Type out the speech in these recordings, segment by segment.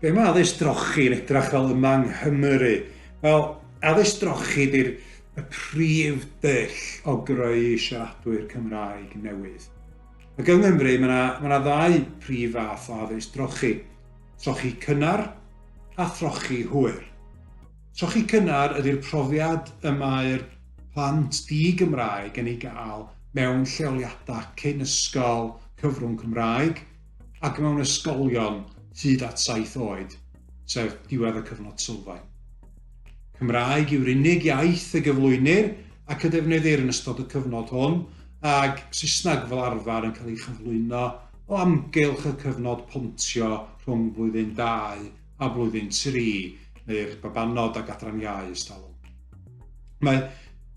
Be mae addysg drochi yn edrach fel yma yng Nghymru? Wel, addysg drochi ydy'r y prif dyll o greu siaradwyr Cymraeg newydd. Ac yng Nghymru mae yna ma ddau prif fath o addysg drochi, trochi cynnar a throchi hwyr. Trochi cynnar ydy'r profiad y mae'r plant di-Gymraeg yn ei gael mewn lleoliadau cyn ysgol cyfrwng Cymraeg ac mewn ysgolion hyd at saith oed, sef diwedd y cyfnod sylfaen. Cymraeg yw'r unig iaith y gyflwynir ac y defnyddir yn ystod y cyfnod hwn, ag Saesneg fel arfer yn cael ei chyflwyno o amgylch y cyfnod pontio rhwng blwyddyn dau a blwyddyn tri neu'r babanod ag adran iau ys talwm. Mae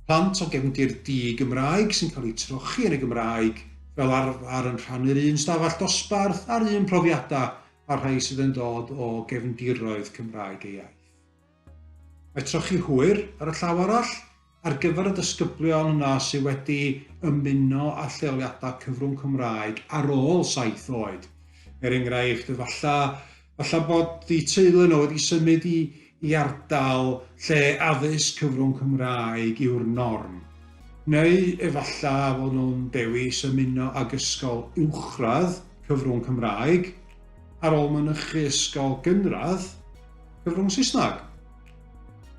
plant o gefndir di-Gymraeg sy'n cael eu trochi yn y Gymraeg fel arfer yn rhannu'r un stafell dosbarth a'r un profiadau a'r rhai sydd yn dod o gefndiroedd Cymraeg ei iaith. Mae trochi hwyr ar y llaw arall Ar gyfer y disgyblion yna sydd wedi ymuno â lleoliadau cyfrwng Cymraeg ar ôl saith oed, er enghraifft, efallai, efallai bod eu teulu nhw wedi symud i, i ardal lle addysg cyfrwng Cymraeg yw'r norm. Neu efallai fod nhw'n dewis ymuno ag ysgol uwchradd cyfrwng Cymraeg ar ôl mynychu ysgol gynradd cyfrwng Saesneg.